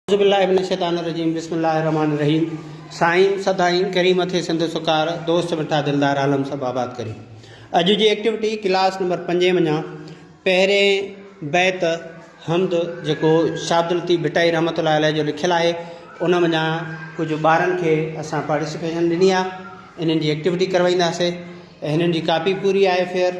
اعوذ باللہ من الشيطان الرجيم بسم الله الرحمٰن الرحيم سائين سدائين ڪريم اٿئي سنڌ سڪار دوست مٺا دلدار عالم سڀ آباد ڪري اڄ جي ايڪٽيوٽي ڪلاس نمبر پنجين وڃان پهرين بيت حمد جيڪو شاهه عبدالطيف ڀٽائي رحمت الله عليه جو لکيل آهي ان وڃان ڪجهه ٻارن کي اسان پارٽيسپيشن ڏني آهي انهن جي ايڪٽيوٽي ڪروائينداسي هنن جي ڪاپي پوري آهي فيئر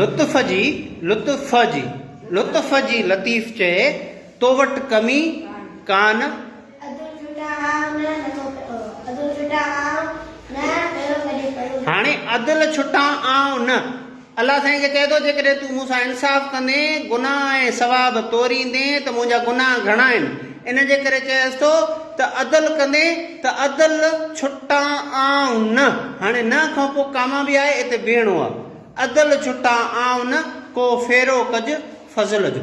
لطف جي لطف جي لطف جي لطيف چئي تو وٽ ڪمي ڪانه. هاڻي عدل ڇٽان آئون نه. الله سائين کي چئي ٿو، جيڪڏهن تون مون سان انصاف ڪندين، گناهه ۽ ثواب توريندين ته منهنجا گناهه گهڻا آهن. ان جي ڪري چئيس ٿو ته عدل ڪندين ته عدل ڇٽان آئون نه. هاڻي نه کان پوء ڪاما به آهي اتي بيهڻو آهي. عدل ڇٽان آئون نه، ڪو ڦيرو ڪج فضل جو.